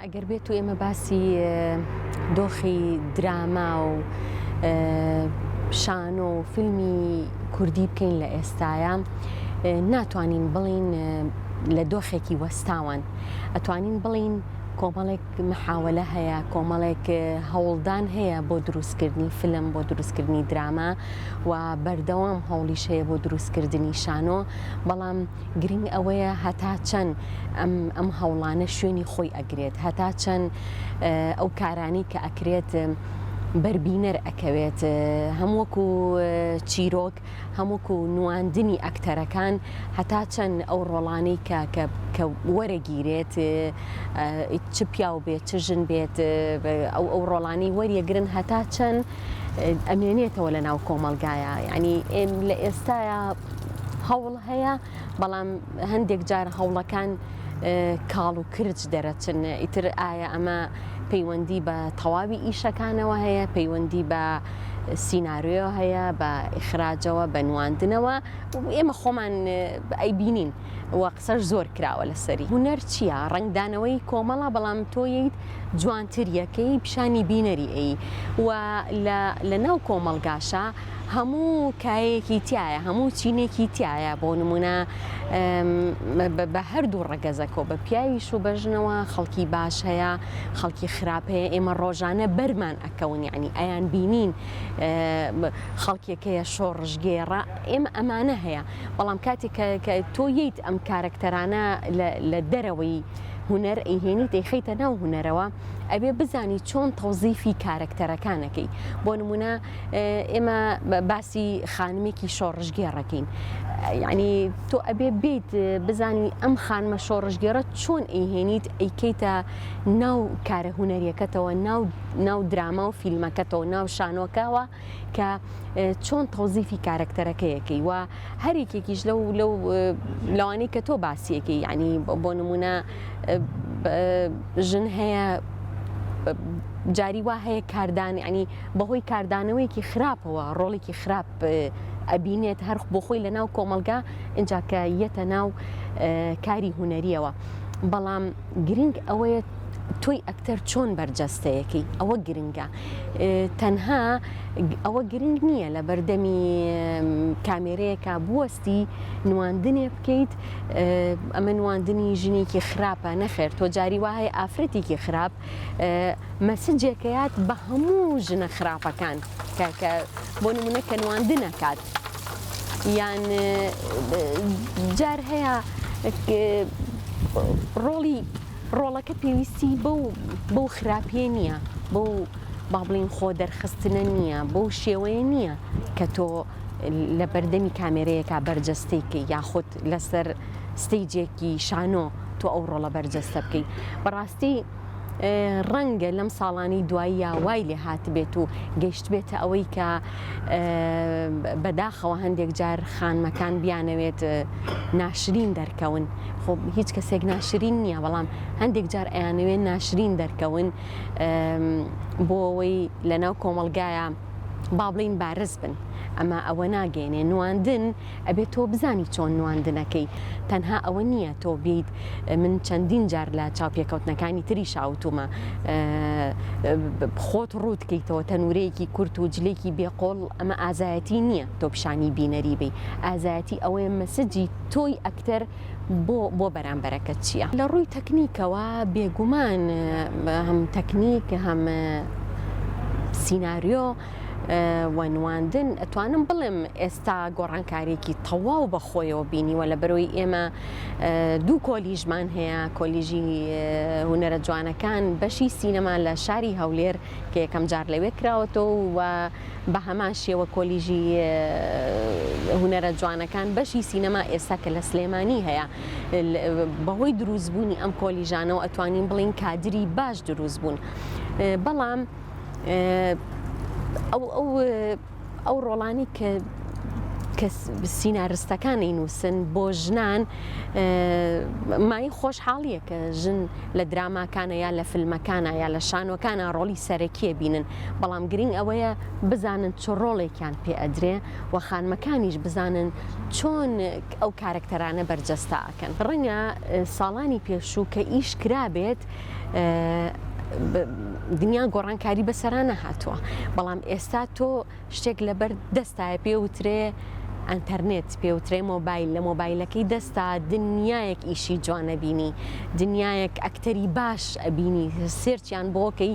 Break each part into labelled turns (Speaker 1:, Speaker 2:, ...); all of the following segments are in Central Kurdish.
Speaker 1: ئەگەر بێتو ئێمە باسی دۆخی دراما و شانۆ و فیلمی کوردی بکەین لە ئێستاە ناتوانین بڵین لە دۆخێکی وەستاوان ئەتوانین بڵین کۆمەڵێک محاولە هەیە کۆمەڵێک هەوڵدان هەیە بۆ دروستکردنی فلم بۆ دروستکردنی دراما و بەردەوام هەوڵیش هەیە بۆ دروستکردنی شانۆ بەڵام گرنگ ئەوەیە هەتا چەند ئەم ئەم هەوڵانە شوێنی خۆی ئەگرێت هەتا چەند ئەو کارانی کە ئەکرێت بەربینەر ئەکەوێت هەمووەکو چیرۆک هەمووکو نواندنی ئەکتەرەکان هەتا چەند ئەو ڕۆڵانەی کە کە وەرەگیرێت چ پیاو بێت چ ژن بێت ئەو ئەو ڕۆڵانی وەریەگرن هەتا چەند ئەمێنێتەوە لە ناو کۆمەلگایە ینی لە ئێستاە هەوڵ هەیە بەڵام هەندێک جار هەوڵەکان کاڵ و کرچ دەرەچن ئیتر ئایا ئەمە پەیوەندی بە تەواوی ئیشەکانەوە هەیە پەیوەندی بە سینناروێ هەیە بە ئیخراجەوە بە نواندنەوە ئێمە خۆمان ئەی بینین و قسەش زۆر کراوە لەسەری هوەر چییە ڕنگدانەوەی کۆمەڵە بەڵام تۆیت جوانتریەکەی پیشانی بینەری ئەی و لە ناو کۆمەلگاشە هەموو کایەیەکی تیایە هەموو چینێکی تیایە بۆ نمونە بە هەردوو ڕەگەزەکەەوە بە پیاویش و بەژنەوە خەڵکی باش هەیە خەڵکی خراپەیە ئێمە ڕۆژانە بەرمان ئەکەون یعنی ئەیان بینین خەڵکێکەیە شۆڕژگێڕە ئێمە ئەمانە هەیە بەڵام کاتێک کە تۆ ییت ئەم کارەکتەرانە لە دەرەوەی هوەر ئەیهێنی دەیخیتە ناو هوەرەوە ئەبێ بزانی چۆن تەوزیفی کارەکتەرەکانەکەی بۆ نمونە ئێمە باسی خانمێکی شۆڕژگێڕەکەین یعنی تۆ ئەبێ بیت بزانی ئەم خانمە شۆڕژگێڕە چۆن ئەیهێنیت ئەیکەیتە ناو کارە هوەریەکەتەوە ناو دراما و فیلمەکەتەوە ناو شانۆکەوە کە چۆن تۆزیفی کارەکتەرەکەیەکەی و هەرێکێکیش لەو لەو لەوانەی کە تۆ باسیەکەی یعنی بۆ نمونە ژن هەیە جاری وا هەیە کاردان ینی بەهۆی کاردانەوەیەکی خراپەوە ڕۆڵێکی خراپ ئەبینێت هەر بۆ خۆی لە ناو کۆمەلگا ئینجا کە یەتە ناو کاری هوەریەوە بەڵام گرنگ ئەوەیە تۆی ئەکتەر چۆن بەرجەستەیەکی ئەوە گرنگە تەنها ئەوە گرنگ نییە لە بەردەمی کامێرەیەکە بوەستی نواندنێ بکەیت ئەمە نواندنی ژنێکی خراپە نەخێر تۆ جاری وایە ئافرەتێکی خراپ مەسجێکەیات بە هەموو ژنە خراپەکان کە بۆ نمونە کە نواندن نەکات یان جار هەیە ڕۆڵی ڕۆڵەکە پێویستی بەو بەو خراپیە نییە بەو با بڵین خۆ دەرخستنە نییە بەو شێوەیە نییە کە تۆ لە بەردەمی کامێرەیەکە بەرجەستەیکە یاخود لەسەر ستەیجێکی شانۆ تۆ ئەو ڕۆڵە بەرجەستە بکەی بەڕاستی ڕەنگە لەم ساڵانی دواییە وای لێ هاتبێت و گەشتبێتە ئەوەی کە بەداخەوە هەندێک جار خانمەکان بیانەوێت ناشرین دەرکەون خۆ هیچ کەسێک ناشرین نییە بەڵام هەندێک جار ئەیانەوێ ناشرین دەرکەون بۆ ئەوەی لەناو کۆمەلگایە با بڵین بارز بن ئەمە ئەوە ناگەێنێ نواندن ئەبێت تۆ بزانی چۆن نواندنەکەی تەنها ئەوە نییە تۆ بێیت من چەندین جار لە چاوپێکەوتنەکانی تری شاوتومە خۆت ڕووت کەیتەوە تەنورەیەکی کورت و جلێکی بێقۆڵ ئەمە ئازایەتی نییە تۆ پیشانی بینەری بی ئازایەتی ئەوەیە مەسجی تۆی ئەکتەر بۆ بۆ بەرامبەرەکە چییە لە ڕووی تەکنیکەوە بێگومان هەم تەکنیک هەم سینناریۆ و نواندن ئەتوانم بڵێم ئێستا گۆڕانکاریێکی تەواو بە خۆیەوە بینیوە لە بەرۆی ئێمە دوو کۆلیژمان هەیە کۆلیژی هوەرە جوانەکان بەشی سینەما لە شاری هەولێر کە یەکەم جار لەوێ کراوەتەوە و بە هەمان شێوە کۆلیژی هوەرە جوانەکان بەشی سینەما ئێستا کە لە سلێمانی هەیە بەهۆی دروستبوونی ئەم کۆلیژانەوە ئەتوانین بڵین کادری باش دروست بوون بەڵام ئەو ڕۆڵانی کە کە سینارستەکانی نووسن بۆ ژنان مای خۆشحاڵیە کە ژن لە دراماکانە یا لە فیلمەکانە یا لە شانۆکانە ڕۆڵی سەرەکیە بینن بەڵام گرنگ ئەوەیە بزانن چۆ ڕۆڵێکیان پێ ئەدرێ و خانمەکانیش بزانن چۆن ئەو کارکتەرانە بەرجەستاکەن ڕەنگە ساڵانی پێشوو کە ئیش کرابێت دنیا گۆڕانکاری بەسەرا نەهاتووە بەڵام ئێستا تۆ شتێک لەبەر دەستایە پێ وترێ ئەتەرنێت پێوترێ مۆبایل لە مۆبایلەکەی دەستا دنیایەک ئیشی جوانەبینی دنیایەک ئەکتەری باش ئەبینی سێرچیان بۆکەی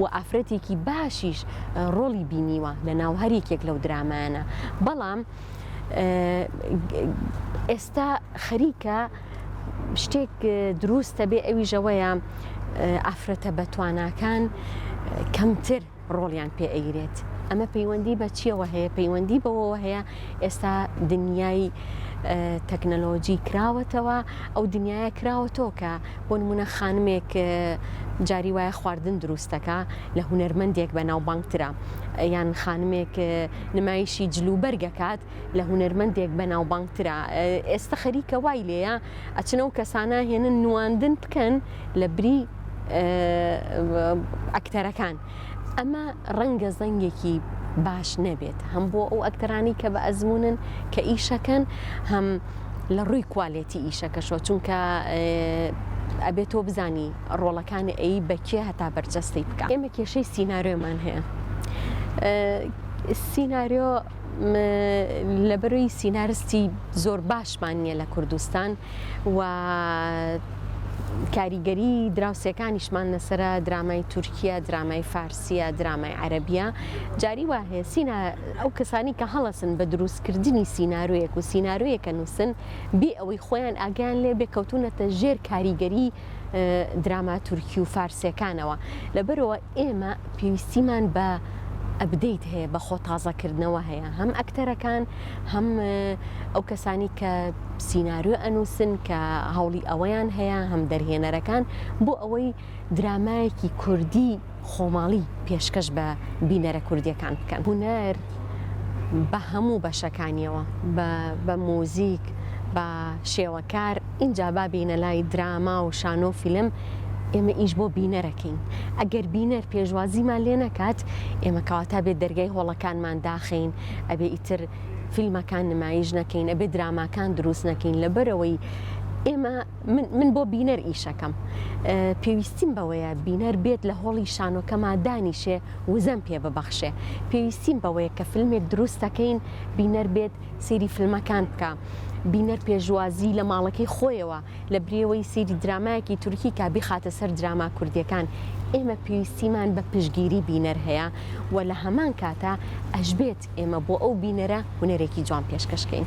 Speaker 1: و ئافرەتێکی باشیش ڕۆڵی بینیوە لە ناو هەر یەکێک لەو درامایانە بەڵام ئێستا خەریکە شتێک دروستە بێ ئەوی ژەوەیە ئافرەتە بەتواناکان کەمتر ڕۆڵیان پێ ئەیرێت ئەمە پەیوەندی بە چیەوە هەیە پەیوەندی بەوەوە هەیە ئێستا دنیای تەکنەلۆجی کراوەتەوە ئەو دنیاە کراوەتەوە کە بۆ نمونە خانمێک جاری وایە خواردن دروستەکە لە هوەرمەندێک بە ناوبانگترا یان خانمێک نمایشی جلو بەرگەکات لە هوەرمەندێک بە ناوبانگترا ئێستا خەریکە وای لێە ئەچنە و کەسانە هێنن نواندن بکەن لە بری ئەکتەرەکان ئەمە ڕەنگە زەنگێکی باش نەبێت هەم بۆ ئەو ئەکتەرانی کە بە ئەزمونن کە ئیشەکەن هەم لە ڕووی کوالێتی ئیشەکەشەوە چونکە ئەبێت تۆ بزانی ڕۆڵەکانی ئەی بەکێ هەتا بەرجەستی بکە ئێمە کێشەی سینناێمان هەیە سینناۆ لەبەرۆی سینارستی زۆر باشمان نییە لە کوردستان و کاریگەری دراوسێکانیشمان لەسرە درامای تورکیا درامای فارسیە درامای عەربیە جاری وا هەیە سینا ئەو کەسانی کە هەڵەسن بە دروستکردنی سیننارویەک و سیننارویەکە نووسن بێ ئەوەی خۆیان ئاگیان لێ بێ کەوتونەتە ژێر کاریگەری دراما تورکی و فارسەکانەوە لەبەرەوە ئێمە پێویستیمان بە ئەبدەیت هەیە بە خۆ تازەکردنەوە هەیە هەم ئەکتەرەکان هەم ئەو کەسانی کە سینناریۆ ئەنووسن کە هەوڵی ئەوەیان هەیە هەم دەرهێنەرەکان بۆ ئەوەی درامایەکی کوردی خۆماڵی پێشکەش بە بینەرە کوردییەکان بکەن. هونەر بە هەموو بەشەکانییەوە، بە موزیک، بە شێوەکار، ئینجا با بێینە لای دراما و شانۆ و فیلم، ئێمە ئیش بۆ بینەرەکەین، ئەگەر بینەر پێشوازیمان لێ نەکات، ئێمە کەواتە ئەبێ دەرگای هۆڵەکانمان داخەین، ئەبێ ئیتر فیلمەکان نمایش نەکەین، ئەبێ دراماکان دروست نەکەین، لەبەرئەوەی ئێمە. من من بۆ بینەر ئیشەکەم پێویستیم بەوەیە بینەر بێت لە هۆڵی شانۆکەما دانیشێ وزەم پێ ببەخشێ پێویستیم بەوەیە کە فیلمێک دروستەکەین بینەر بێت سێری فیلمەکان بکە بینەر پێشوازی لە ماڵەکەی خۆیەوە لە برێوەی سیری درامایەکی تورکی کا بیخاتە سەر دراما کوردیەکان ئێمە پێویستیمان بە پشگیری بینەر هەیە و لە هەمان کاتە ئەشبێت ئێمە بۆ ئەو بینەرە هونەرێکی جوان پێشکەشکەین.